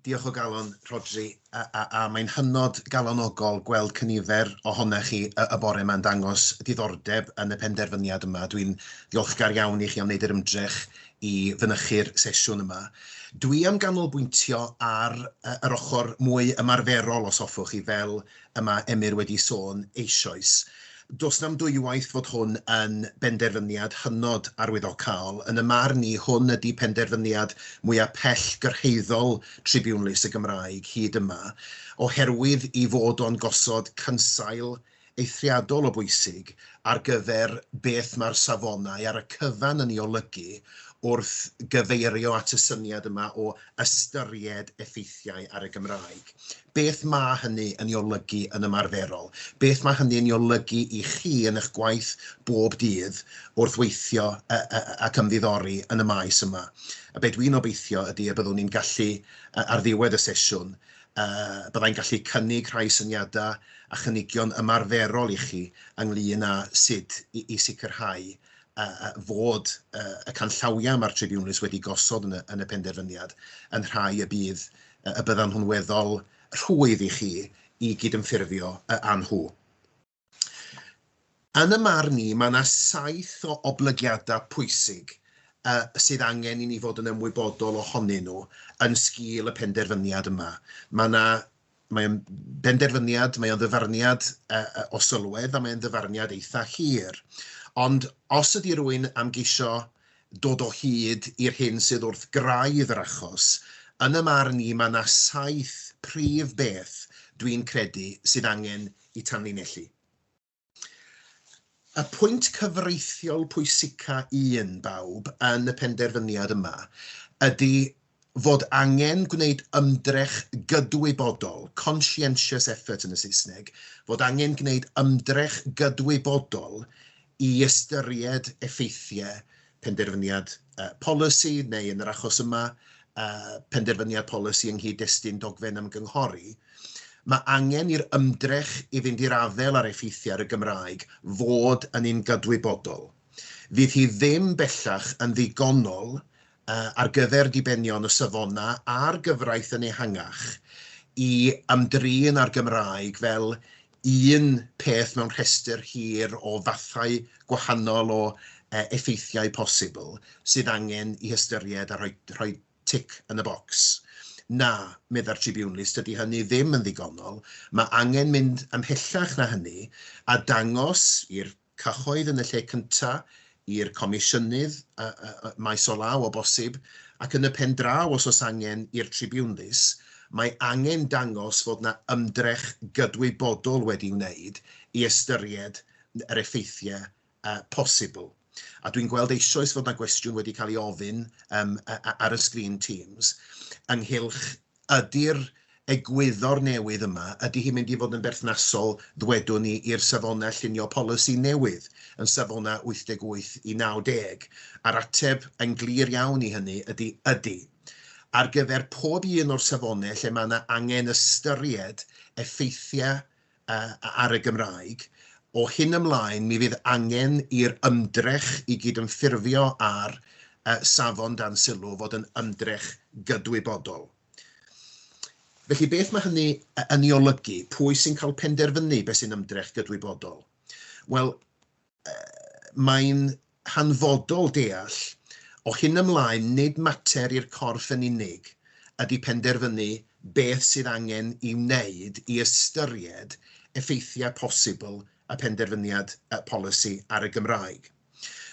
Diolch o galon, Rhodri, a mae'n hynod galonogol gweld cynifer ohonoch chi y bore yma yn dangos diddordeb yn y penderfyniad yma. Dwi'n ddiolchgar iawn i chi am wneud yr ymdrech i fynychu'r sesiwn yma. Dwi am ganolbwyntio ar yr ochr mwy ymarferol, os hoffwch chi, fel y mae Emyr wedi sôn eisoes. Does na'm dwywaith fod hwn yn benderfyniad hynod arwyddocaol. Yn y marn i, hwn ydi penderfyniad mwya' pell-gyrhaeddol Tribiwnlys y Gymraeg hyd yma, oherwydd ei fod o'n gosod cynsail eithriadol o bwysig ar gyfer beth mae'r safonau ar y cyfan yn ei olygu wrth gyfeirio at y syniad yma o ystyried effeithiau ar y Gymraeg. Beth mae hynny yn ei olygu yn ymarferol? Beth mae hynny yn ei olygu i chi yn eich gwaith bob dydd wrth weithio ac ymddiddori yn y maes yma? A be dwi'n obeithio ydy y byddwn ni'n gallu, ar ddiwedd y sesiwn, bydda i'n gallu cynnig rhai syniadau a chynigion ymarferol i chi ynglŷn â sut i sicrhau fod y canllawiau mae'r tribiwnlys wedi gosod yn y penderfyniad yn rhai y bydd y byddan nhw'n weddol rhwydd i chi i gydymffurfio â nhw. Yn y marn i, mae yna saith o oblygiadau pwysig sydd angen i ni fod yn ymwybodol ohonyn nhw yn sgîl y penderfyniad yma. Mae yna Mae o'n benderfyniad, mae o'n ddyfarniad o sylwedd a mae'n ddyfarniad eitha hir. Ond os ydy rwy'n am geisio dod o hyd i'r hyn sydd wrth graidd yr achos, yn y marn i mae 'na saith prif beth dwi'n credu sydd angen i tanlinellu. Y pwynt cyfreithiol pwysica un, bawb, yn y penderfyniad yma ydy fod angen gwneud ymdrech gydwybodol, conscientious effort yn y Saesneg, fod angen gwneud ymdrech gydwybodol i ystyried effeithiau penderfyniad polisi, neu yn yr achos yma, penderfyniad polisi yng nghyd-destun dogfen ymgynghori, mae angen i'r ymdrech i fynd i'r afael â'r effeithiau ar y Gymraeg fod yn un gydwybodol. Fydd hi ddim bellach yn ddigonol ar gyfer dibenion y safonau a'r gyfraith yn ehangach i ymdrin â'r Gymraeg fel un peth mewn rhestr hir o fathau gwahanol o effeithiau posibl sydd angen eu hystyried a rhoi tic yn y bocs. Na, meddai'r Tribiwnlys, dydy hynny ddim yn ddigonol, mae angen mynd ymhellach na hynny a dangos i'r cyhoedd yn y lle cyntaf, i'r Comisiynydd maes o law o bosib, ac yn y pen draw, os oes angen, i'r tribiwnlys, mae angen dangos fod yna ymdrech gydwybodol wedi'i wneud i ystyried yr effeithiau posibl. A dwi'n gweld eisoes fod yna gwestiwn wedi cael ei ofyn ar y sgrin Teams ynghylch Ydy'r egwyddor newydd yma, ydy hi'n mynd i fod yn berthnasol, ddwedwn ni, i'r safonau llunio polisi newydd yn safonau 88 i 90? A'r ateb, yn glir iawn i hynny, ydy ydy. Ar gyfer pob un o'r safonau lle mae yna angen ystyried effeithiau ar y Gymraeg, o hyn ymlaen mi fydd angen i'r ymdrech i gydymffurfio â'r Safon dan Sylw fod yn ymdrech gydwybodol. Felly, beth mae hynny yn ei olygu? Pwy sy'n cael penderfynu beth sy'n ymdrech gydwybodol? Wel, mae'n hanfodol deall o hyn ymlaen nid mater i'r corff yn unig ydy penderfynu beth sydd angen ei wneud i ystyried effeithiau posibl y penderfyniad polisi ar y Gymraeg.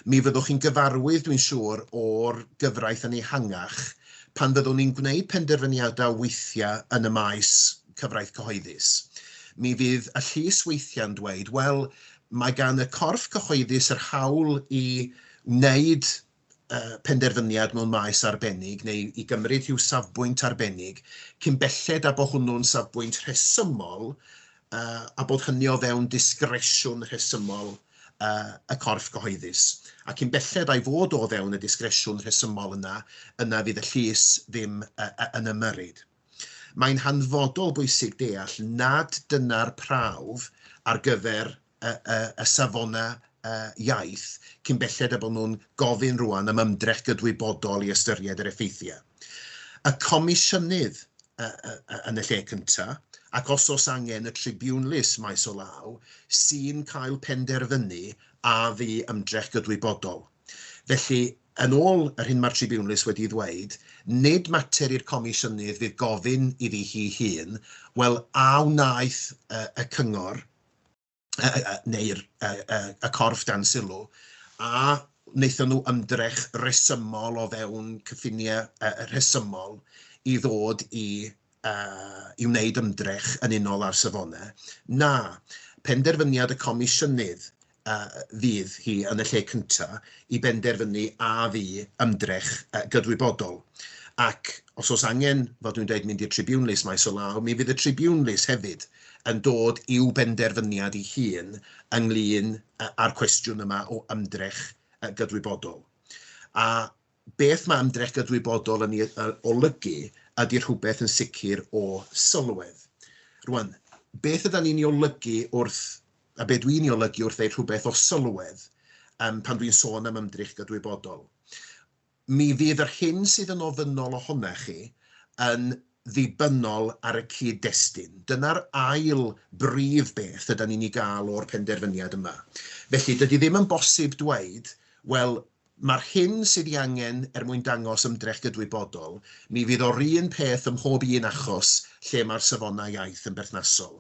Mi fyddwch chi'n gyfarwydd, dwi'n siŵr, o'r gyfraith yn ehangach pan fyddwn ni'n gwneud penderfyniadau weithiau yn y maes cyfraith cyhoeddus. Mi fydd y llys weithiau'n dweud, wel, mae gan y corff cyhoeddus yr hawl i wneud uh, penderfyniad mewn maes arbennig neu i gymryd rhyw safbwynt arbennig cyn belled a bod hwnnw'n safbwynt rhesymol uh, a bod hynny o fewn disgresiwn rhesymol uh, y corff gyhoeddus. A cyn belled a'i fod o fewn y disgresiwn rhesymol yna, yna fydd y llys ddim uh, yn ymyrryd. Mae'n hanfodol bwysig deall nad dyna'r prawf ar gyfer y y y safonau y iaith cyn belled â bod nhw'n gofyn rŵan am ymdrech gydwybodol i ystyried yr effeithiau. Y Comisiynydd y y y yn y lle cyntaf, ac os oes angen y tribiwnlys maes o law, sy'n cael penderfynu a fu ymdrech gydwybodol. Felly, Yn ôl yr hyn mae'r Tribiwnlys wedi ei ddweud, nid mater i'r Comisiynydd fydd gofyn iddi hi'i hun, wel, a wnaeth y Cyngor neu'r y corff dan sylw, a wnaethon nhw ymdrech resymol o fewn cyffiniau rhesymol i ddod i i wneud ymdrech yn unol â'r safonau? Na. Penderfyniad y Comisiynydd fydd hi yn y lle cyntaf i benderfynu a fu ymdrech gydwybodol, ac os oes angen, fel dwi'n dweud, mynd i'r tribiwnlys maes o law, mi fydd y tribiwnlys hefyd yn dod i'w benderfyniad ei hun ynglŷn â'r cwestiwn yma o ymdrech gydwybodol. A Beth mae ymdrech gydwybodol yn ei olygu ydy rhywbeth yn sicr o sylwedd. Rwan, beth yda ni'n ei olygu wrth, a be dwi'n ei olygu wrth ddeud rhywbeth o sylwedd um, pan dwi'n sôn am ymdrech gydwybodol? Mi fydd yr hyn sydd yn ofynnol ohona chi yn ddibynnol ar y cyd-destun. Dyna'r ail brif beth yda ni'n ei gael o'r penderfyniad yma. Felly, dydy ddim yn bosib dweud, wel, Mae'r hyn sydd ei angen er mwyn dangos ymdrech gydwybodol, mi fydd o'r un peth ym mhob un achos lle mae'r safonau iaith yn berthnasol.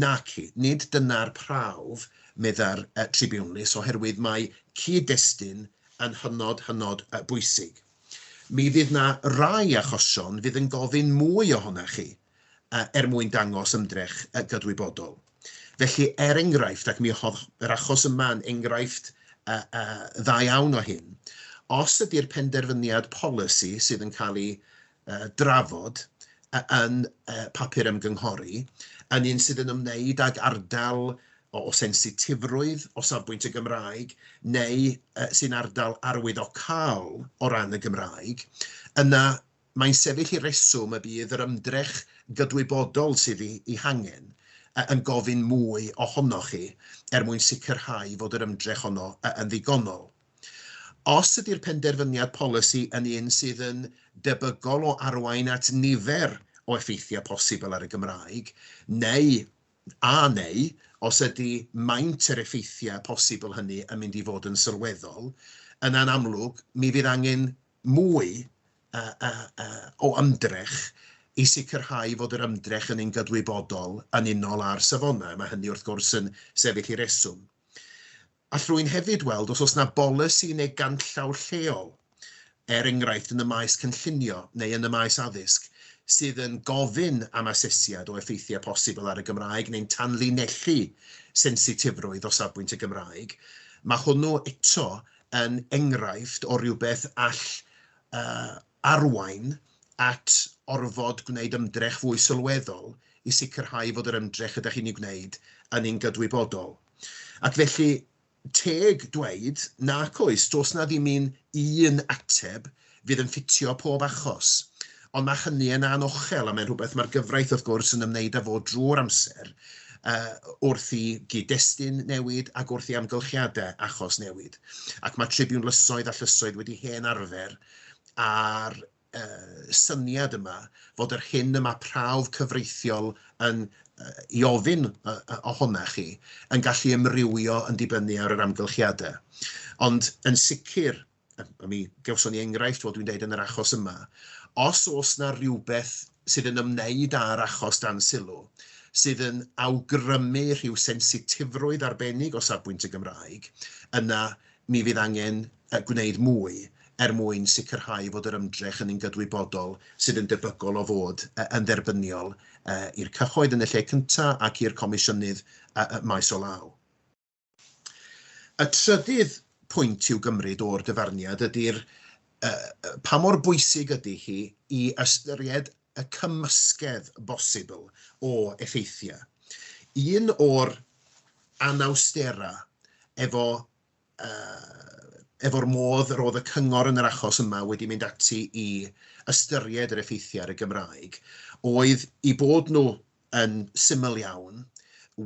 Naci, nid dyna'r prawf, meddai'r tribiwnlys, oherwydd mae cyd-destun yn hynod, hynod bwysig. Mi fydd 'na rai achosion fydd yn gofyn mwy ohonoch chi. er mwyn dangos ymdrech gydwybodol. Felly, er enghraifft, ac mi oedd yr achos yma yn enghraifft dda iawn o hyn, os ydy'r penderfyniad polisi sydd yn cael ei drafod yn papur ymgynghori yn un sydd yn ymwneud ag ardal o sensitifrwydd o safbwynt y Gymraeg neu sy'n ardal arwyddocaol o ran y Gymraeg, yna Mae'n sefyll i reswm y bydd yr ymdrech gydwybodol sydd ei hangen yn gofyn mwy ohonoch chi er mwyn sicrhau fod yr ymdrech honno yn ddigonol. Os ydy'r penderfyniad polisi yn un sydd yn debygol o arwain at nifer o effeithiau posibl ar y Gymraeg, neu, a neu, os ydy maint yr effeithiau posibl hynny yn mynd i fod yn sylweddol, yna'n amlwg, mi fydd angen mwy o ymdrech i sicrhau fod yr ymdrech yn un gydwybodol yn unol â'r safonau. Mae hynny wrth gwrs yn sefyll i reswm. All rwy'n hefyd weld os oes yna bolisi neu ganllaw lleol, er enghraifft yn y maes cynllunio neu yn y maes addysg, sydd yn gofyn am asesiad o effeithiau posibl ar y Gymraeg neu'n tanlinellu sensitifrwydd o safbwynt y Gymraeg. Mae hwnnw eto yn enghraifft o rywbeth all uh, arwain at orfod gwneud ymdrech fwy sylweddol i sicrhau fod yr ymdrech ydych chi'n ei gwneud yn un gydwybodol. Ac felly, teg dweud nac oes, does na ddim un un ateb fydd yn ffitio pob achos. Ond mae hynny yn anochel a mae'n rhywbeth mae'r gyfraith wrth gwrs yn ymwneud â fo drwy'r amser uh, wrth i gyd-destun newid ac wrth i amgylchiadau achos newid. Ac mae tribiwn lysoedd a llysoedd wedi hen arfer a'r uh, syniad yma fod yr hyn y mae prawf cyfreithiol yn uh, i ofyn uh, ohona chi yn gallu ymrywio yn dibynnu ar yr amgylchiadau. Ond yn sicr, mi gawson ni enghraifft, fel dwi'n deud, yn yr achos yma, os oes yna rhywbeth sydd yn ymwneud â'r achos dan sylw, sydd yn awgrymu rhyw sensitifrwydd arbennig o safbwynt y Gymraeg, yna mi fydd angen gwneud mwy er mwyn sicrhau fod yr ymdrech yn un gydwybodol sydd yn debygol o fod yn dderbyniol i'r cyhoedd yn y lle cyntaf ac i'r Comisiynydd maes o law. Y trydydd pwynt i'w gymryd o'r dyfarniad ydy'r pa mor bwysig ydy hi i ystyried y cymysgedd bosibl o effeithiau. Un o'r anawsterau efo, efo'r modd yr oedd y cyngor yn yr achos yma wedi mynd ati i ystyried yr effeithiau ar y Gymraeg oedd eu bod nhw yn syml iawn,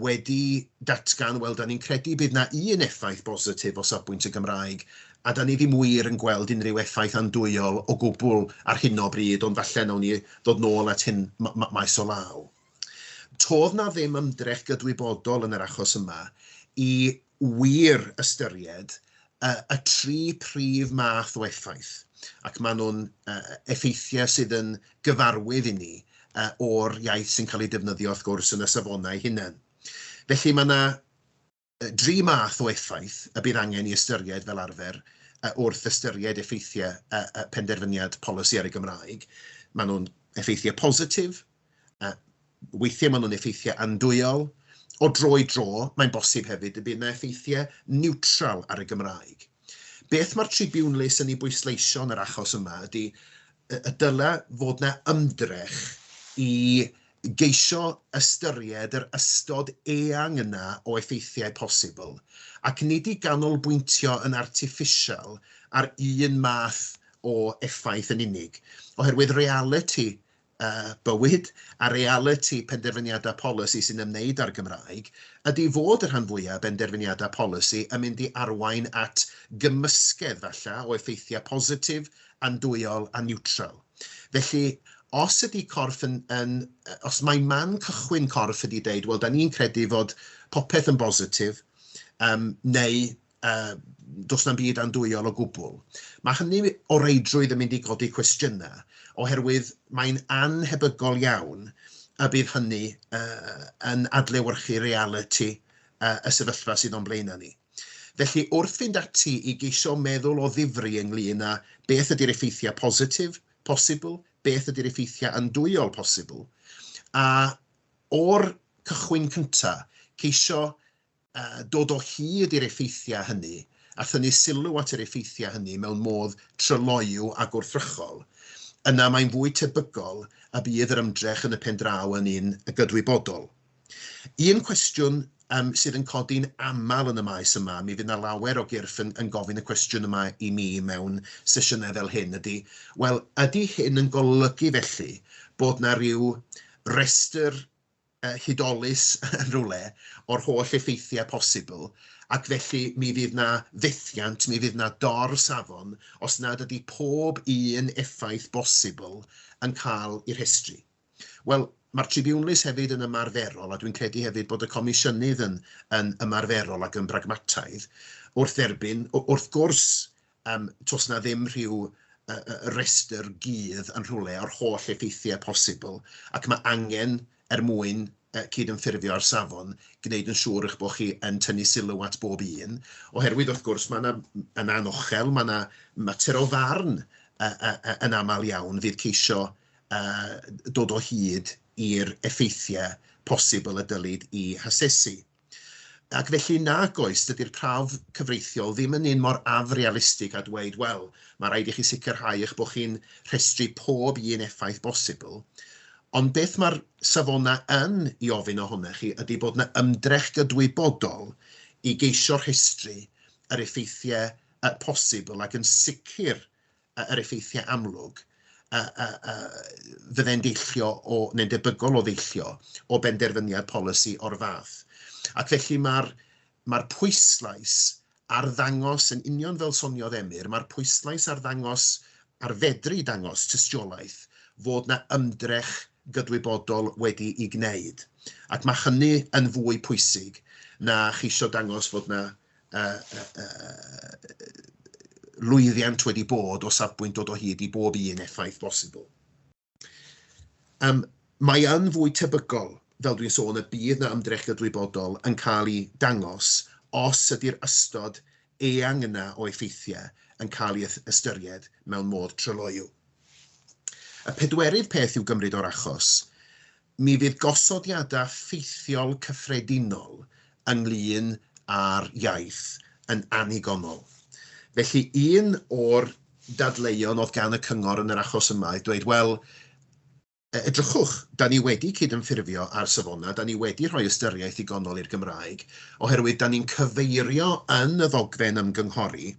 wedi datgan, wel, da ni'n credu bydd na un effaith bositif o safbwynt y Gymraeg, a da ni ddim wir yn gweld unrhyw effaith andwyol o gwbl ar hyn o bryd, ond falle nawn ni ddod nôl at hyn maes o law. Todd na ddim ymdrech gydwybodol yn yr achos yma i wir ystyried y tri prif math o effaith, ac maen nhw'n effeithiau sydd yn gyfarwydd i ni o'r iaith sy'n cael ei defnyddio wrth gwrs yn y safonau eu hunain. Felly mae yna dri math o effaith y bydd angen ei ystyried fel arfer wrth ystyried effeithiau penderfyniad polisi ar y Gymraeg. Maen nhw'n effeithiau positif, Weithiau maen nhw'n effeithiau andwyol. O dro i dro, mae'n bosib hefyd y bydd yna effeithiau niwtral ar y Gymraeg. Beth mae'r Tribune les yn ei bwysleisio yn yr achos yma ydy y dylai fod yna ymdrech i geisio ystyried yr ystod eang yna o effeithiau posibl, ac nid i ganolbwyntio yn artiffisial ar un math o effaith yn unig, oherwydd realiti bywyd, a realiti penderfyniadau polisi sy'n ymwneud â'r Gymraeg, ydy fod y rhan fwyaf o benderfyniadau polisi yn mynd i arwain at gymysgedd, falle, o effeithiau positif, andwyol a niwtral. Felly, os ydy corff yn, yn, os mae man cychwyn corff ydy deud, wel, da ni'n credu fod popeth yn bositif, um, neu uh, does na'm byd andwyol o gwbl. Mae hynny o reidrwydd yn mynd i godi cwestiynau, oherwydd mae'n anhebygol iawn y bydd hynny uh, yn adlewyrchu reality uh, y sefyllfa sydd o'n blaenau ni. Felly, wrth fynd ati i geisio meddwl o ddifri ynglyn â beth ydy'r effeithiau positif posibl, beth ydy'r effeithiau andwyol posibl, a o'r cychwyn cyntaf, ceisio dod o hyd i'r effeithiau hynny a thynnu sylw at yr effeithiau hynny mewn modd tryloyw a gwrthrychol, yna mae'n fwy tebygol y bydd yr ymdrech yn y pen draw yn un gydwybodol. Un cwestiwn um, sydd yn codi'n aml yn y maes yma, mi fydd yna lawer o gyrff yn, yn gofyn y cwestiwn yma i mi mewn sesiynau fel hyn, ydy, wel, ydy hyn yn golygu felly bod yna rhyw restr hudolus yn rhywle o'r holl effeithiau posibl, ac felly mi fydd 'na fethiant, mi fydd 'na dor-safon os nad ydy pob un effaith bosibl yn cael ei rhestru. Wel, mae'r tribiwnlys hefyd yn ymarferol, a dwi'n credu hefyd bod y Comisiynydd yn ymarferol ac yn bragmataidd, wrth dderbyn, wrth gwrs, Yym, does 'na ddim rhyw yy yy restr gudd yn rhywle o'r holl effeithiau posibl, ac mae angen, er mwyn yy cydymffurfio â'r safon, gwneud yn siŵr eich bod chi yn tynnu sylw at bob un, oherwydd, wrth gwrs, mae 'na, yn anochel, mae 'na mater o farn yy yy yy yn aml iawn fydd ceisio yy dod o hyd i'r effeithiau posibl y dylid 'u hasesu. Ac felly, nag oes, dydy'r prawf cyfreithiol ddim yn un mor afrealistig â dweud, wel, mae rhaid i chi sicrhau eich bod chi'n rhestru pob un effaith bosibl, ond beth mae'r safonau yn ei ofyn ohonoch chi ydy bod yna ymdrech gydwybodol i geisio rhestru yr effeithiau posibl ac yn sicr yr effeithiau amlwg a, a, a fydde'n deillio o, neu'n debygol o ddeillio o benderfyniad polisi o'r fath. Ac felly mae'r mae pwyslais ar ddangos, yn union fel soniodd Emyr, mae'r pwyslais ar ddangos, ar fedru dangos tystiolaeth fod na ymdrech gydwybodol wedi ei gwneud. Ac mae hynny yn fwy pwysig na cheisio dangos fod na lwyddiant wedi bod o safbwynt dod o hyd i bob un effaith bosibl. Um, mae yn fwy tebygol, fel dwi'n sôn, y bydd na ymdrech gydwybodol yn cael ei dangos os ydy'r ystod eang yna o effeithiau yn cael ei ystyried mewn modd tryloyw. Y pedwerydd peth i'w gymryd o'r achos Mi fydd gosodiadau ffeithiol cyffredinol ynglŷn â'r iaith yn annigonol. Felly, un o'r dadleuon oedd gan y cyngor yn yr achos yma oedd dweud, wel, edrychwch, da ni wedi cydymffurfio â'r safonau, da ni wedi rhoi ystyriaeth ddigonol i'r Gymraeg, oherwydd da ni'n cyfeirio yn y ddogfen ymgynghori,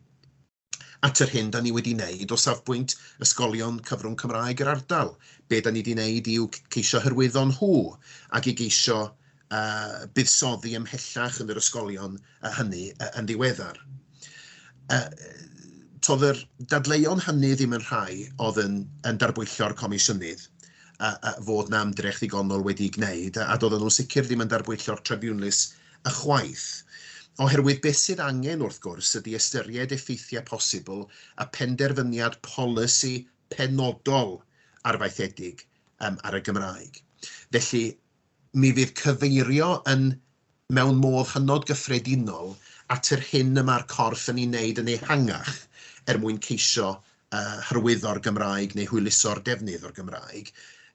at yr hyn da ni wedi wneud o safbwynt ysgolion cyfrwng Cymraeg yr ardal. Be da ni wedi wneud yw ceisio hyrwyddo nhw ac i geisio uh, buddsoddi ymhellach yn yr ysgolion uh, hynny uh, yn ddiweddar. Uh, todd yr dadleuon hynny ddim yn rhai oedd yn, yn darbwyllio'r comisiynydd a, a fod na ymdrech ddigonol wedi'i gwneud, a, a doedden nhw'n sicr ddim yn darbwyllo'r tribiwnlys Ychwaith. Oherwydd beth sydd angen, wrth gwrs, ydy ystyried effeithiau posibl a phenderfyniad polisi penodol arfaethedig ar y Gymraeg. Felly, mi fydd cyfeirio yn, mewn modd hynod gyffredinol, at yr hyn y mae'r corff yn ei wneud yn ehangach er mwyn ceisio hyrwyddo'r Gymraeg neu hwyluso'r defnydd o'r Gymraeg,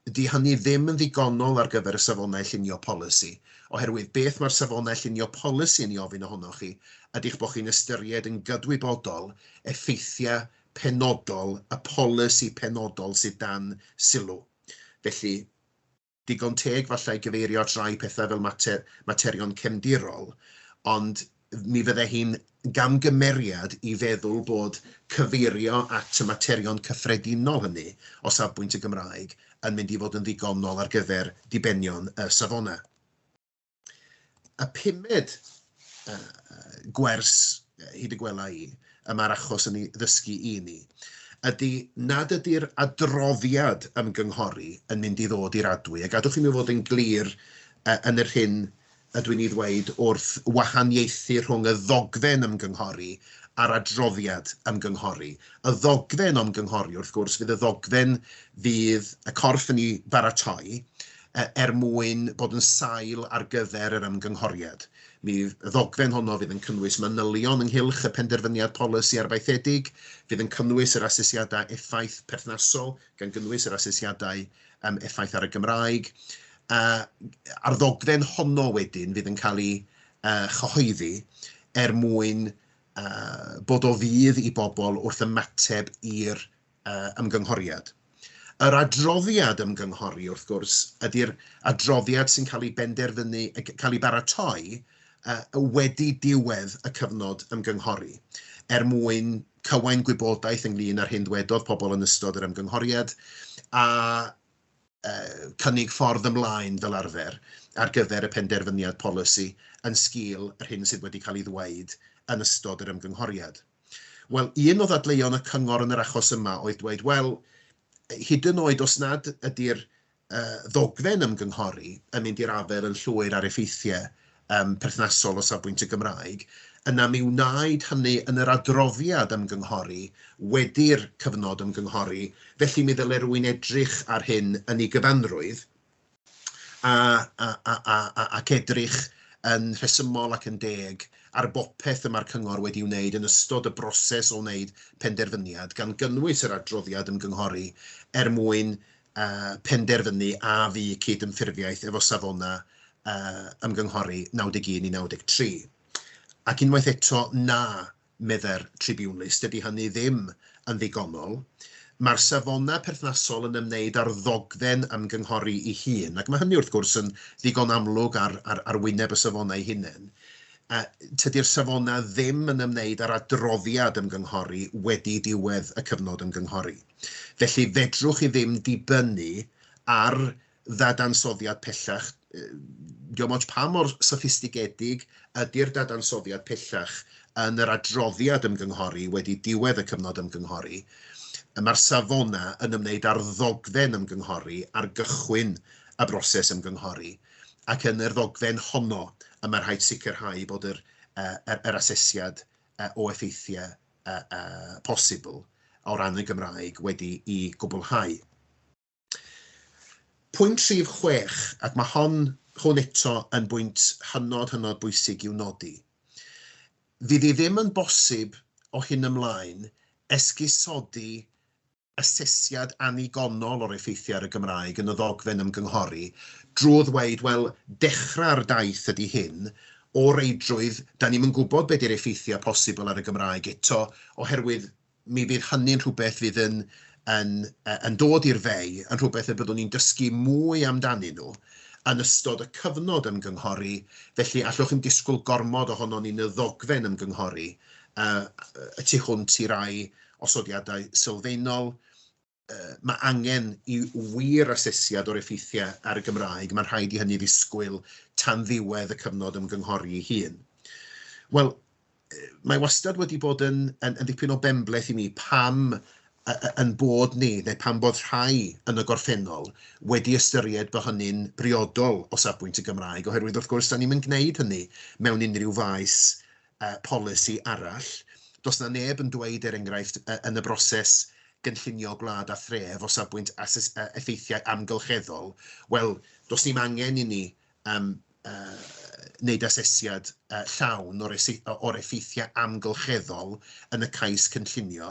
dydy hynny ddim yn ddigonol ar gyfer y Safonau Llunio Polisi, oherwydd beth mae'r Safonau Llunio Polisi yn ei ofyn ohonoch chi ydy eich bod chi'n ystyried yn gydwybodol effeithiau penodol y polisi penodol sydd dan sylw. Felly, digon teg falle i gyfeirio at rai pethau fel mater, materion cefndirol, ond mi fydde hi'n gamgymeriad i feddwl bod cyfeirio at y materion cyffredinol hynny o safbwynt y Gymraeg yn mynd i fod yn ddigonol ar gyfer dibenion y safonau. y pumed uh, gwers hyd y gwela i, y mae'r achos yn ei ddysgu i ni, ydy nad ydy'r adroddiad ymgynghori yn mynd i ddod i'r adwy. A gadwch i mi fod yn glir uh, yn yr hyn ydw i'n ei ddweud wrth wahaniaethu rhwng y ddogfen ymgynghori a'r adroddiad ymgynghori. Y ddogfen ymgynghori, wrth gwrs, fydd y ddogfen fydd y corff yn ei baratoi, er mwyn bod yn sail ar gyfer yr ymgynghoriad. Mi ddogfen honno fydd yn cynnwys manylion ynghylch y penderfyniad polisi arfaethedig, fydd yn cynnwys yr asesiadau effaith perthnasol, gan gynnwys yr asesiadau um, effaith ar y Gymraeg. Uh, a'r ddogfen honno wedyn fydd yn cael ei uh, chyhoeddi er mwyn uh, bod o fydd i bobl wrth ymateb i'r ymgynghoriad. Yr adroddiad ymgynghori, wrth gwrs, ydy'r adroddiad sy'n cael ei benderfynu, cael ei baratoi wedi diwedd y cyfnod ymgynghori, er mwyn cywain gwybodaeth ynglŷn â'r hyn ddwedodd pobl yn ystod yr ymgynghoriad a cynnig ffordd ymlaen fel arfer ar gyfer y penderfyniad polisi yn sgil yr hyn sydd wedi cael ei ddweud yn ystod yr ymgynghoriad. Wel, un o ddadleuon y cyngor yn yr achos yma oedd dweud, wel, hyd yn oed os nad ydy'r uh, ddogfen ymgynghori yn mynd i'r afer yn llwyr ar effeithiau um, perthnasol o safbwynt y Gymraeg, yna mi wnaed hynny yn yr adroddiad ymgynghori wedi'r cyfnod ymgynghori, felly mi ddyle rwy'n edrych ar hyn yn ei gyfanrwydd, a, a, a, a, a, ac edrych yn rhesymol ac yn deg ar bopeth y mae'r Cyngor wedi'i wneud yn ystod y broses o wneud penderfyniad, gan gynnwys yr adroddiad ymgynghori, er mwyn uh, penderfynu a fu cyd-ymffurfiaeth efo safonau uh, ymgynghori 91 i 93. Ac unwaith eto, na, meddai'r tribiwnlys, dydy hynny ddim yn ddigonol. Mae'r safonau perthnasol yn ymwneud â'r ddogfen ymgynghori ei hun, ac mae hynny wrth gwrs yn ddigon amlwg ar, ar, ar wyneb y safonau eu hunain. A tydi'r safonau ddim yn ymwneud â'r adroddiad ymgynghori wedi diwedd y cyfnod ymgynghori. Felly, fedrwch chi ddim dibynnu ar ddadansoddiad pellach, dim ond pa mor soffistigedig ydy'r dadansoddiad pellach yn yr adroddiad ymgynghori wedi diwedd y cyfnod ymgynghori, mae'r safonau yn ymwneud â'r ddogfen ymgynghori ar gychwyn y broses ymgynghori, ac yn yr ddogfen honno y mae rhaid sicrhau bod yr, yr, yr asesiad o effeithiau posibl o ran y Gymraeg wedi'i gwblhau. Pwynt rhif chwech, ac mae hon, hwn eto yn bwynt hynod, hynod bwysig i'w nodi. Fydd i ddim yn bosib o hyn ymlaen esgusodi asesiad annigonol o'r effeithiau ar y Gymraeg yn y ddogfen ymgynghori drwy ddweud, wel, dechrau'r daith ydy hyn, o reidrwydd, 'da ni'm yn gwybod be 'di'r effeithiau posibl ar y Gymraeg eto, oherwydd Mi fydd hynny'n rhywbeth fydd yn yn yn dod i'r fei, yn rhywbeth y byddwn ni'n dysgu mwy amdanyn nhw yn ystod y cyfnod ymgynghori, felly allwch ddim disgwyl gormod ohonon ni yn y ddogfen ymgynghori y tu hwnt i rai osodiadau sylfaenol, mae angen i wir asesiad o'r effeithiau ar y Gymraeg, mae'n rhaid i hynny ddisgwyl tan ddiwedd y cyfnod ymgynghori ei hun. Wel, mae wastad wedi bod yn, yn, yn ddipyn o benbleth i mi pam yn bod ni, neu pan bod rhai yn y gorffennol, wedi ystyried bod hynny'n briodol o safbwynt y Gymraeg, oherwydd wrth gwrs, da ni'n mynd gwneud hynny mewn unrhyw faes yy polisi arall. Does 'na neb yn dweud, er enghraifft, yy yn y broses gynllunio gwlad a thref o safbwynt ases- yy effeithiau amgylcheddol, wel, does dim angen inni yym yy wneud asesiad yy llawn o'r ese- o'r effeithiau amgylcheddol yn y cais cynllunio,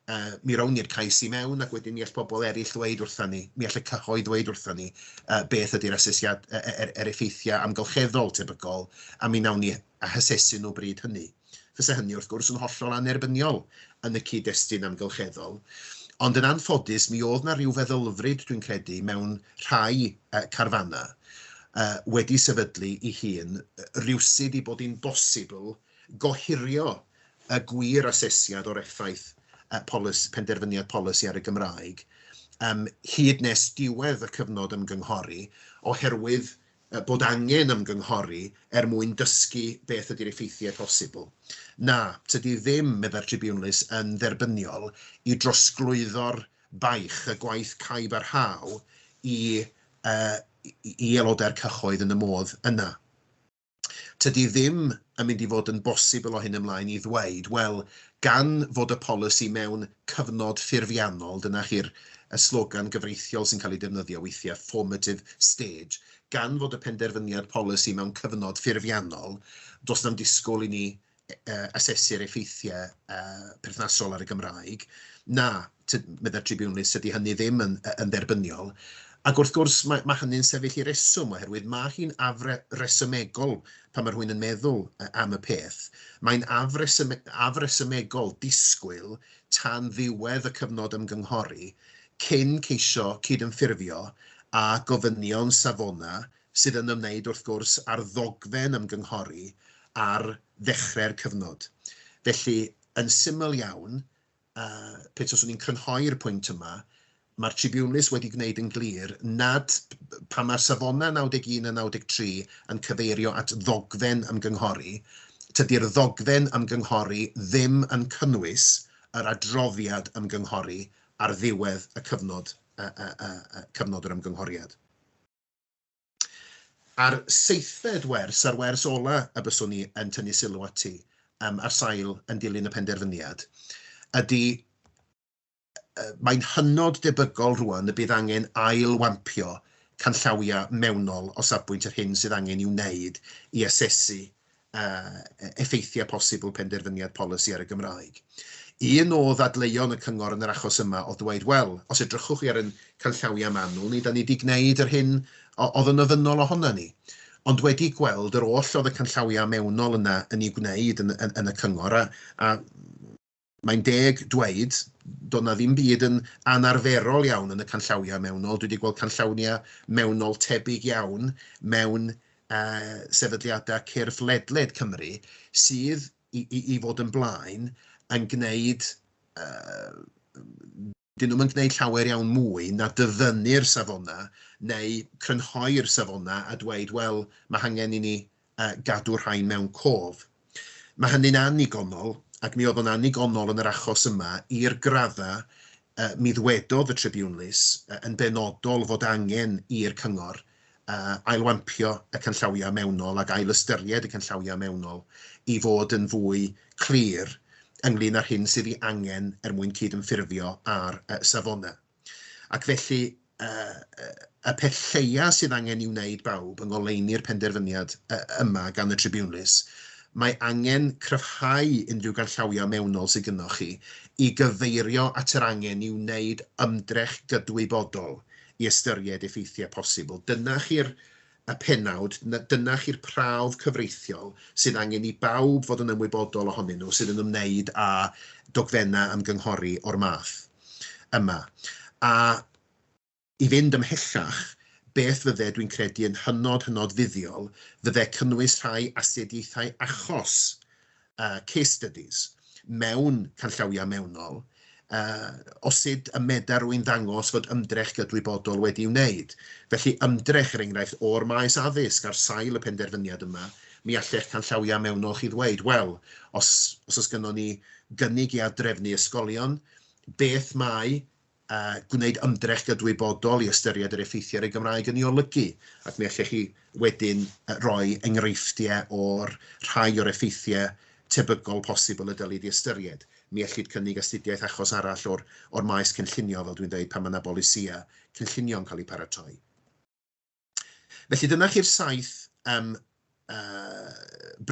yy mi rown ni'r cais i mewn ac wedyn mi all pobl eraill ddweud wrthon ni, mi all y cyhoedd ddweud wrthon ni yy beth ydy'r asesiad- yy yr yr effeithiau amgylcheddol tebygol a mi wnawn ni a hasesu nhw bryd hynny. Fysa hynny, wrth gwrs, yn hollol annerbyniol yn y cyd-destun amgylcheddol, ond yn anffodus mi oedd 'na ryw feddylfryd, dwi'n credu, mewn rhai carfannau wedi sefydlu ei hun rywsut i bod hi'n bosibl gohirio y gwir asesiad o'r effaith penderfyniad polisi ar y Gymraeg hyd nes diwedd y cyfnod ymgynghori oherwydd bod angen ymgynghori er mwyn dysgu beth ydy'r effeithiau posibl. Na, tydi ddim, meddai'r Tribiwnlys, yn dderbyniol i drosglwyddo'r baich, y gwaith caib a rhaw, i i aelodau'r cyhoedd yn y modd yna. Tydi ddim yn mynd i fod yn bosibl o hyn ymlaen i ddweud, wel, gan fod y polisi mewn cyfnod ffurfiannol, dyna chi'r y slogan gyfreithiol sy'n cael ei defnyddio weithiau, formative stage, gan fod y penderfyniad polisi mewn cyfnod ffurfiannol, does na'm disgwyl i ni asesu'r effeithiau perthnasol ar y Gymraeg. Na, meddai'r tribiwnlys, dydy hynny ddim yn dderbyniol. Ac wrth gwrs, mae, mae hynny'n sefyll i reswm, oherwydd mae hi'n afre, resymegol pan mae rhywun yn meddwl am y peth. Mae'n afresym, afresymegol disgwyl tan ddiwedd y cyfnod ymgynghori cyn ceisio cydymffurfio â gofynion Savona, sydd yn ymwneud wrth gwrs â'r ddogfen ymgynghori ar ddechrau'r cyfnod. Felly, yn syml iawn, A pe taswn i'n crynhoi'r pwynt yma, mae'r Tribiwnlys wedi gwneud yn glir nad, pan mae'r safonau 91 a 93 yn cyfeirio at ddogfen ymgynghori, tydi'r ddogfen ymgynghori ddim yn cynnwys yr adroddiad ymgynghori ar ddiwedd y cyfnod, cyfnod yr ymgynghoriad. a'r seithfed wers a'r wers ola y byswn i yn tynnu sylw ati yym ar sail yn dilyn y penderfyniad ydi yy mae'n hynod debygol rŵan y bydd angen ail-wampio canllawiau mewnol o safbwynt yr hyn sydd angen i'w wneud i asesu effeithiau posibl penderfyniad polisi ar y Gymraeg. Un o ddadleuon y Cyngor yn yr achos yma oedd dweud, wel, os edrychwch chi ar ein canllawiau manwl ni, da ni wedi gwneud yr hyn oedd yn ofynnol ohonan ni. Ond wedi gweld yr oll oedd y canllawiau mewnol yna yn ei wneud yn y Cyngor, a mae'n deg dweud, doedd na ddim byd yn anarferol iawn yn y canllawiau mewnol. Dwi wedi gweld canllawiau mewnol tebyg iawn mewn uh, sefydliadau cyrff ledled Cymru sydd i, i, i fod yn blaen yn gwneud uh, 'dyn nhw'm yn gwneud llawer iawn mwy na dyfynnu'r safonau neu crynhoi'r safonau a dweud 'wel, mae hangen i ni gadw'r rhain mewn cof'. Mae hynny'n annigonol, ac mi oedd o'n annigonol yn yr achos yma i'r graddau mi ddwedodd y tribiwnlys yn benodol fod angen i'r cyngor ailwampio y canllawiau mewnol ac ail-ystyried y canllawiau mewnol i fod yn fwy clir ynglŷn â'r hyn sydd ei angen er mwyn cydymffurfio â'r safonau. Ac felly, y peth lleiaf sydd angen ei wneud, bawb, yng ngoleuni'r penderfyniad yma gan y tribiwnlys, mae angen cryfhau unrhyw ganllawiau mewnol sydd gynnoch chi i gyfeirio at yr angen i wneud ymdrech gydwybodol i ystyried effeithiau posibl. Dyna chi'r y pennawd, dyna chi'r prawf cyfreithiol sydd angen i bawb fod yn ymwybodol ohonyn nhw sydd yn ymwneud â dogfennau ymgynghori o'r math yma. A i fynd ymhellach, beth fydde, dwi'n credu, yn hynod, hynod fuddiol, fydde cynnwys rhai astudiaethau achos case studies mewn canllawiau mewnol o sut y medar rwy'n ddangos fod ymdrech gydwybodol wedi'i wneud. Felly, ymdrech, er enghraifft, o'r maes addysg ar sail y penderfyniad yma, mi all eich canllawiau mewnol chi ddweud, wel, os oes gynnon ni gynnig i ad-drefnu ysgolion, beth mae a gwneud ymdrech gydwybodol i ystyried yr effeithiau ar y Gymraeg yn ei olygu, ac mi allech chi wedyn roi enghreifftiau o'r rhai o'r effeithiau tebygol posibl y dylid ei ystyried. Mi ellid cynnig astudiaeth achos arall o'r o'r maes cynllunio, fel dwi'n dweud, pan mae yna bolisïau cynllunio'n cael eu paratoi. Felly dyna chi'r saith um, uh,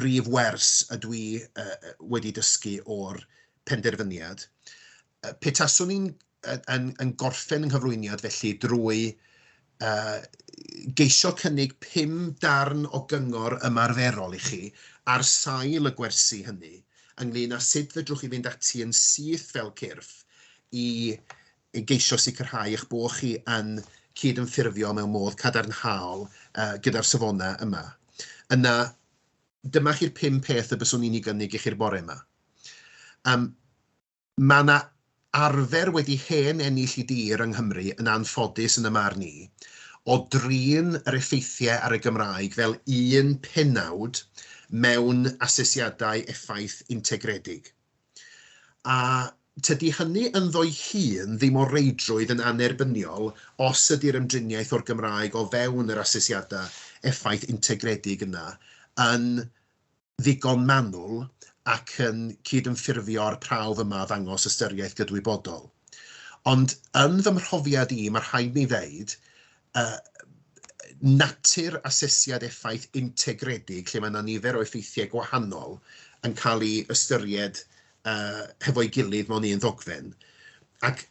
brif wers y dwi uh, wedi dysgu o'r penderfyniad. Uh, petaswn i'n yn, yn gorffen yng nghyflwyniad felly drwy uh, geisio cynnig pum darn o gyngor ymarferol i chi ar sail y gwersi hynny ynglyn â sut fedrwch chi fynd ati yn syth fel cyrff i i geisio sicrhau eich bod chi yn cydymffurfio mewn modd cadarnhaol gyda'r safonau yma, yna dyma chi'r pum peth y byswn i'n ei gynnig i chi'r bore yma. Um, mae yna arfer wedi hen ennill i dir yng Nghymru yn anffodus yn y mar ni, o drin yr effeithiau ar y Gymraeg fel un penawd mewn asesiadau effaith integredig. A tydi hynny ynddo'i hun ddim o reidrwydd yn annerbyniol os ydi'r ymdriniaeth o'r Gymraeg o fewn yr asesiadau effaith integredig yna yn ddigon manwl ac yn cydymffurfio â'r prawf yma o ddangos ystyriaeth gydwybodol. Ond yn fy mhrofiad i, mae rhaid mi ddeud, yy natur asesiad effaith integredig lle mae 'na nifer o effeithiau gwahanol yn cael eu ystyried yy hefo'i gilydd mewn un ddogfen ac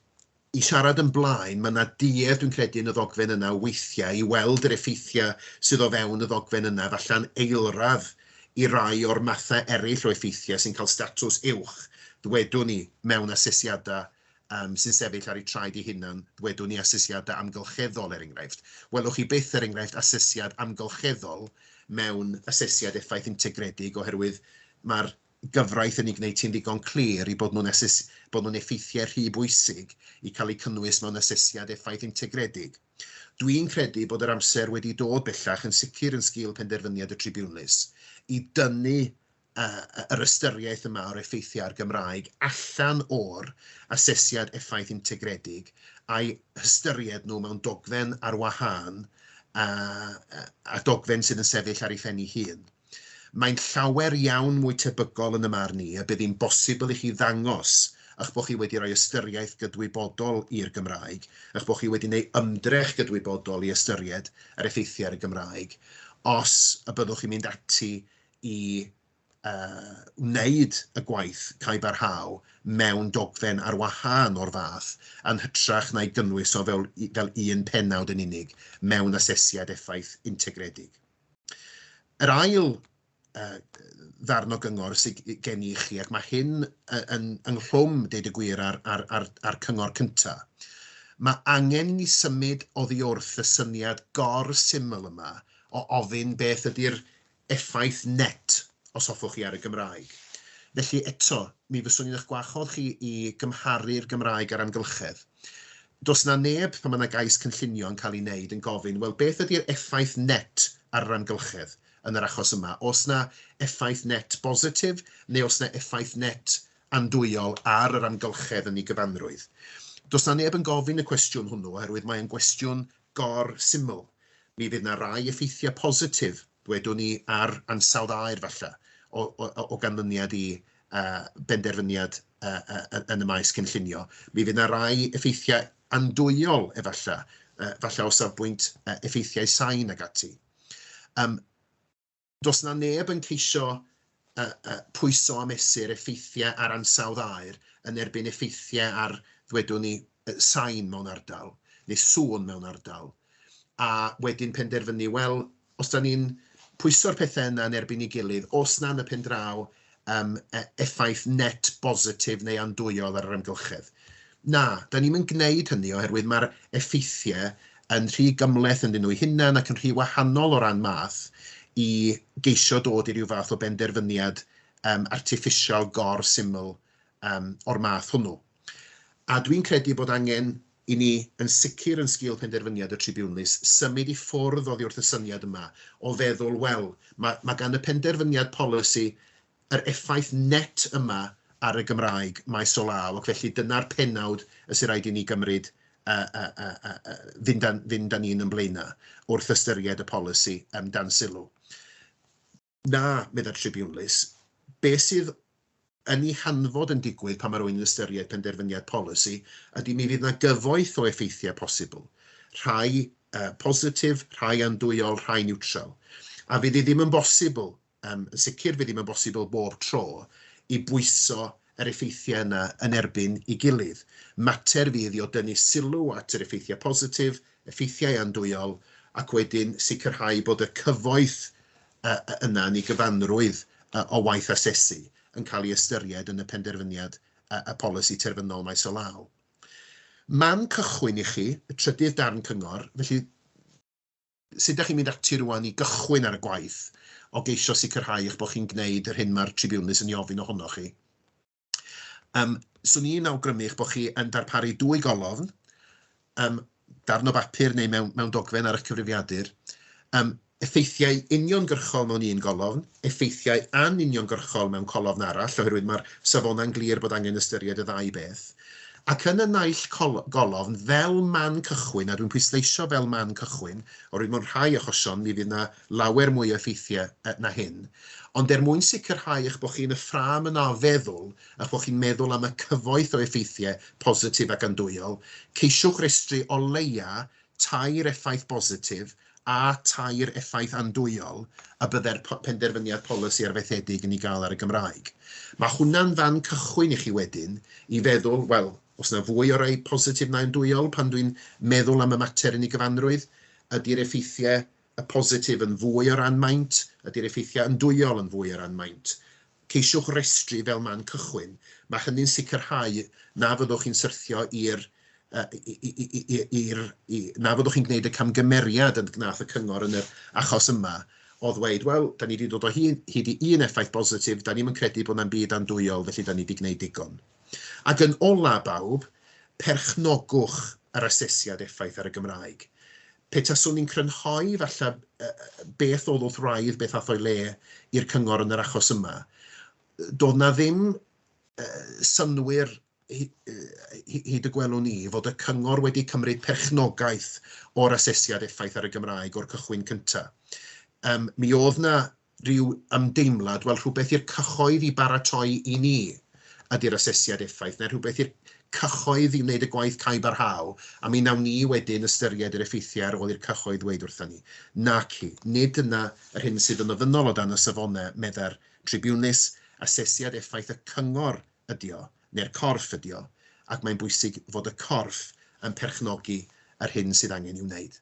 i siarad yn blaen, mae 'na duedd dwi'n credu yn y ddogfen yna weithiau i weld yr effeithiau sydd o fewn y ddogfen yna, falle'n eilradd i rai o'r mathau eraill o effeithiau sy'n cael statws uwch, ddwedwn ni, mewn asesiadau yym, sy'n sefyll ar eu traed eu hunain, ddwedwn ni, asesiadau amgylcheddol, er enghraifft. Welwch chi byth, er enghraifft, asesiad amgylcheddol mewn asesiad effaith integredig oherwydd mae'r gyfraith yn ei gwneud hi'n ddigon clir i bod nhw'n ases- bod nhw'n effeithiau rhy bwysig i cael eu cynnwys mewn asesiad effaith integredig. Dwi'n credu bod yr amser wedi dod bellach yn sicr yn sgil penderfyniad y tribiwnlys i dynnu uh, yr ystyriaeth yma o'r effeithiau ar Gymraeg allan o'r asesiad effaith integredig a'i hystyried nhw mewn dogfen ar wahân a, a dogfen sydd yn sefyll ar ei phen ei hun. Mae'n llawer iawn mwy tebygol yn y marn ni y bydd hi'n bosibl i chi ddangos eich bod chi wedi rhoi ystyriaeth gydwybodol i'r Gymraeg, eich bod chi wedi gwneud ymdrech gydwybodol i ystyried yr effeithiau ar y Gymraeg, os y byddwch chi'n mynd ati i wneud y gwaith cae barhau mewn dogfen ar wahân o'r fath, yn hytrach na'i gynnwys o fewn fel un pennawd yn unig mewn asesiad effaith integredig. Yr ail ddarn o gyngor sydd gen i chi, ac mae hyn yn ynghlwm, deud y gwir, â'r cyngor cyntaf, mae angen i ni symud oddiwrth y syniad gor-syml yma o ofyn beth ydy'r effaith net os hoffwch chi ar y Gymraeg. Felly eto, mi fyswn i'n eich gwahodd chi i gymharu'r Gymraeg a'r amgylchedd. Does 'na neb, pan mae 'na gais cynllunio yn cael ei wneud, yn gofyn, wel, beth ydy'r effaith net ar yr amgylchedd yn yr achos yma? Oes 'na effaith net bositif neu oes 'na effaith net andwyol ar yr amgylchedd yn ei gyfanrwydd? Does 'na neb yn gofyn y cwestiwn hwnnw oherwydd mae'n gwestiwn gor-syml, mi fydd 'na rai effeithiau positif, ddwedwn i, ar ansawdd aer falle, o, o, o ganlyniad i uh, benderfyniad uh, uh, yn y maes cynllunio. Mi fydd yna rai effeithiau andwyol efallai, uh, falle o safbwynt uh, effeithiau sain ag ati. Um, Does 'na neb yn ceisio pwyso a mesur effeithiau ar ansawdd aer yn erbyn effeithiau ar, ddwedwn ni, sain mewn ardal, neu sŵn mewn ardal, a wedyn penderfynu, wel, os 'da ni'n pwyso'r pethau yna yn erbyn ei gilydd, os na yn y pen draw, um, e, effaith net bositif neu andwyol ar yr amgylchedd. Na, da ni'n mynd gwneud hynny oherwydd mae'r effeithiau yn rhy gymleth yn nhw'n hunain ac yn rhy wahanol o ran math i geisio dod i ryw fath o benderfyniad um, artiffisial gor syml um, o'r math hwnnw. A dwi'n credu bod angen i ni, yn sicr yn sgil penderfyniad y tribiwnlys, symud i ffwrdd oddi wrth y syniad yma o feddwl, wel, mae, mae gan y penderfyniad polisi yr effaith net yma ar y Gymraeg maes o law, ac felly dyna'r pennawd y sy'n rhaid i ni gymryd a, a, a, a, a fynd, â, fynd â ni'n yn blaenau wrth ystyried y polisi um, dan sylw. Na, meddai'r tribiwnlys, be sydd yn ei hanfod yn digwydd pan mae rhywun yn ystyried penderfyniad polisi ydy mi fydd 'na gyfoeth o effeithiau posibl, rhai positif, rhai andwyol, rhai niwtral. A fydd hi ddim yn bosibl, yn sicr fydd ddim yn bosibl bob tro, i bwyso yr effeithiau yna yn erbyn ei gilydd. Mater fydd i o dynnu sylw at yr effeithiau positif, effeithiau andwyol, ac wedyn sicrhau bod y cyfoeth yna yn ei gyfanrwydd o waith asesu yn cael ei ystyried yn y penderfyniad y polisi terfynol maes o law. Man cychwyn i chi, y trydydd darn cyngor, felly, Sut dach chi'n mynd ati rŵan i gychwyn ar y gwaith o geisio sicrhau eich bod chi'n gwneud yr hyn mae'r tribiwnlys yn ei ofyn ohonoch chi? Yym, 'swn i'n awgrymu eich bod chi yn darparu dwy golofn, yym, darn o bapur neu mewn mewn dogfen ar eich cyfrifiadur, yym, effeithiau uniongyrchol mewn un golofn, effeithiau anuniongyrchol mewn colofn arall, oherwydd mae'r safonau'n glir bod angen ystyried y ddau beth. Ac yn y naill col-, golofn, fel man cychwyn, a dwi'n pwysleisio fel man cychwyn, oherwydd mewn rhai achosion mi fydd 'na lawer mwy o effeithiau yy na hyn, ond er mwyn sicrhau eich bod chi yn y ffrâm yna o feddwl, a'ch bod chi'n meddwl am y cyfoeth o effeithiau positif ac andwyol, ceisiwch restru o leia' tair effaith bositif a tair effaith andwyol y byddai'r penderfyniad polisi arfaethedig yn ei gael ar y Gymraeg. Mae hwnna'n fan cychwyn i chi wedyn i feddwl, wel, oes yna fwy o rai positif na andwyol pan dwi'n meddwl am y mater yn ei gyfanrwydd? Ydy'r effeithiau y positif yn fwy o ran maint, ydy'r effeithiau yndwyol yn fwy o ran maint. Ceisiwch restru fel man cychwyn. Mae hynny'n sicrhau na fyddwch chi'n syrthio i'r na fyddwch chi'n gwneud y camgymeriad y gwnaeth y cyngor yn yr achos yma o ddweud, wel, da ni wedi dod o hyd i un effaith bositif, da ni'm yn credu bod na'm byd andwyol, felly da ni wedi gwneud digon. Ac yn ola, bawb, perchnogwch yr asesiad effaith ar y Gymraeg. Pe taswn i'n crynhoi, falle, beth oedd wrth wraidd, beth ath o'i le i'r cyngor yn yr achos yma, doedd 'na ddim synnwyr, hyd y gwelwn i, fod y cyngor wedi cymryd perchnogaeth o'r asesiad effaith ar y Gymraeg o'r cychwyn cyntaf. Mi oedd 'na rhyw ymdeimlad, wel, rhywbeth i'r cyhoedd i baratoi i ni ydy'r asesiad effaith, neu rhywbeth i'r cyhoedd i wneud y gwaith cau barhau, a mi wnawn ni wedyn ystyried yr effeithiau ar ôl i'r cyhoedd ddweud wrthon ni. Naci, nid dyna yr hyn sydd yn ofynnol o dan y safonau, meddai'r tribiwnlys, asesiad effaith y cyngor ydy o, neu'r corff ydy o, ac mae'n bwysig fod y corff yn perchnogi yr hyn sydd angen i'w wneud.